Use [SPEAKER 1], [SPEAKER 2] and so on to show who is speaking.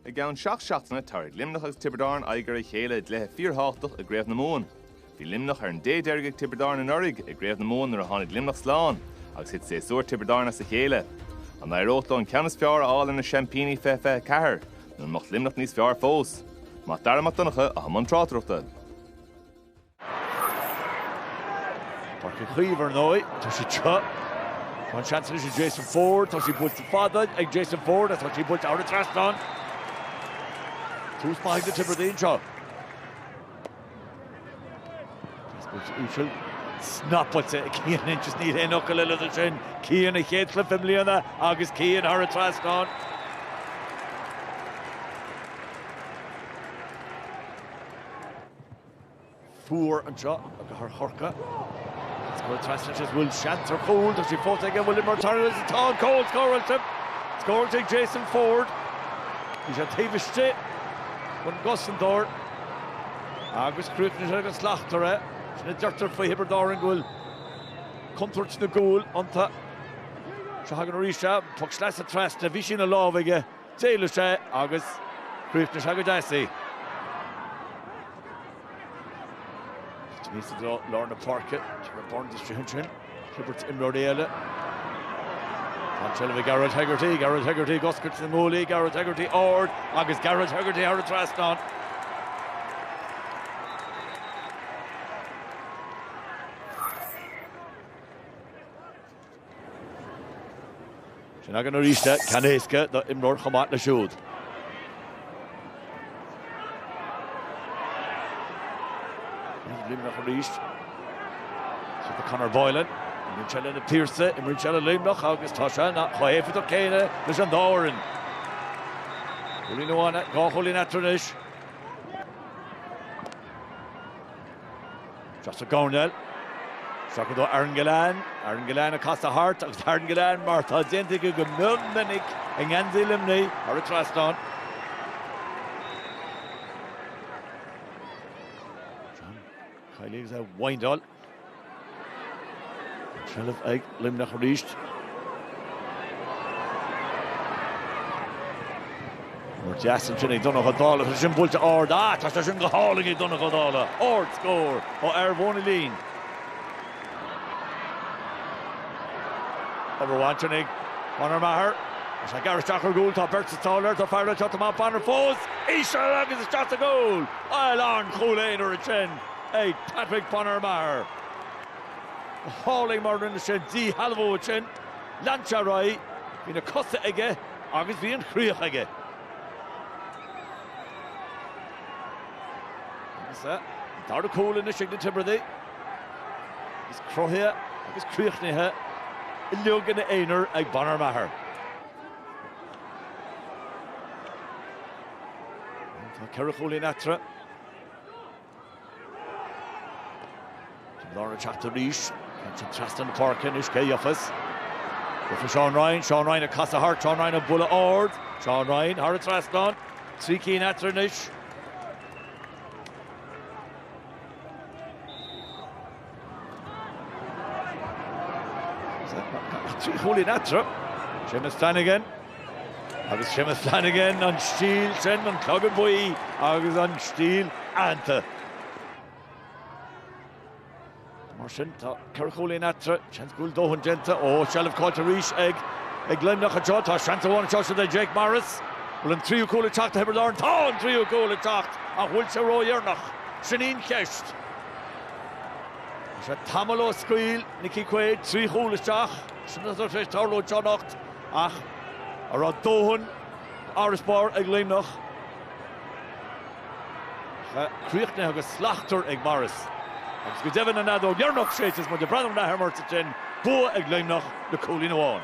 [SPEAKER 1] I gceann seacht seachtaine tabharfaidh Luimneach agus Tiobraid Árann aghaidh ar a chéile i gcluiche fíorthábhachtach i gCraobh na Mumhan. Bhí Luimneach ar an dé deiridh ag Tiobraid Árann anuraidh i gCraobh na Mumhan nuair a tháinig Luimneach slán agus thit séasúr Thiobraid Árann as a chéile. An éireodh leo an ceann is fearr a fháil ar na seaimpíní fé 24 nó an mbeadh Luimneach níos fearr fós? Mac Dara Mac Donncha, atá i mbun tráchtaireachta.
[SPEAKER 2] Páirc Uí Chaoimh ar ndóigh, tá sé teo. Tá an seans anois ag Jason Forde, tá sí buailte fada ag Jason Forde agus tá sí buailte thar an trasnán. Tús maith ag na Tiobradaigh anseo. Buailte íseal, snapaite ag Cian Lynch agus níl aon fhocal eile dó sin. Cian a chéad chluiche i mbliana agus Cian thar an trasnán. Fuar anseo i gCathair Chorcaí. Is go bhfuil trasna isteach is go bhfuil seans ar chúl. Tá sí fós ag an bhfuil mar tarraingt agus tá an cúl scóráilte. Scóráilte ag Jason Forde. Bhí sé taobh istigh den gcosantóir agus chríochnaigh sé go slachtmhar é. Sin a deirtear faoi Thiobraid Árann go bhfuil contúirt na gcúl iontu. Seo againn arís é. An poc sleasa trasna. Bhí sí ina lámh aige. D'éalaigh sé agus chríochnaigh sé go deas é. Aníos i dtreo lár na páirce, ag Byrnes isteach ansin, Clifford imreoirí eile. Tá seilbh ag Gearóid Hegarty, Gearóid Hegarty ag oscailt na nguaillí, Gearóid Hegarty ard agus Gearóid Hegarty thar an trasnán. Sin againn arís é, ceann éasca do imreoir chomh maith le siúd. Is Luimneach arís. Seo do Conor Boylan. Imríonn sé leis na Piarsaigh, imríonn sé le Luimneach agus tá sé chomh héifeachtach céanna leis an dá fhoireann. Cúilín amháin, dhá chúilín eatarthu anois. Deas ag Ó Néill. Seachadadh do Aaron Gillane. Aaron Gillane ag casadh thart agus Aaron Gillane mar atá déanta aige go mion minic i ngeansaí Luimnigh thar an trasnán. Kylie is a wind all. Trellis egg. Luimneach arís. Cor deas ansin ag Donnacha Ó Dálaigh, tá sé sin buailte ard, ah tá sé sin go hálainn ag Donnacha Ó Dálaigh, ard scór ó fhear Mhóin an Lín. Obair mhaith ansin ag Bonner Maher, tá sé ag gearradh isteach ar an gcúl, tá beirt sa tsáil air, tá fear eile anseo, Tomas Bonner fós, íseal agus isteach sa gcúl, bhuel an-chúl aonair ansin ag Patrick Bonner Maher. Go hálainn mar a rinne sé an díshealbhú ansin. Lean sé ar aghaidh. Bhí na cosa aige agus bhí an chríoch aige. Agus é an dara cúl anois ag na Tiobradaigh. Is cruthaithe agus críochnaithe uilig ina aonar ag Bonner Maher. Tá ceithre chúilín eatarthu. Tiobraid Árann ag teacht arís. Ansin trasna na páirce anois cé gheobhas? Fuair Seán Ryan, Seán Ryan ag casadh thart, Seán Ryan ag bualadh ard, Seán Ryan thar an trasnán, trí cinn eatarthu anois. trí chúilín eatarthu. Seamus Flanagan agus Seamus Flanagan an stíl sin an clogad buí agus an stíl aitheanta. Mar sin tá ceithre chúilín eatarthu, seans go bhfuil dóthain déanta, ó, seilbh caillte arís ag Luimneach anseo. Tá seans amháin anseo do Jake Morris. Bhfuil an tríú cúl ag teacht do Thiobraid Árann? Tá an tríú cúl ag teacht ach bhfuil sé ródheireanach? Sin í an cheist. Tá sé tamall ó scaoil Nickie Quaid trí chúl isteach sin é atá tar éis tarlú anseo anocht ach a raibh dóthain d'fharasbarr ag Luimneach. Críochnaithe agus slachtmhar ag Morris. Agus go deimhin an fheadóg dheireanach séidte is muid ag breathnú ar an athuair mar is ansin bua ag Luimneach le cúilín amháin.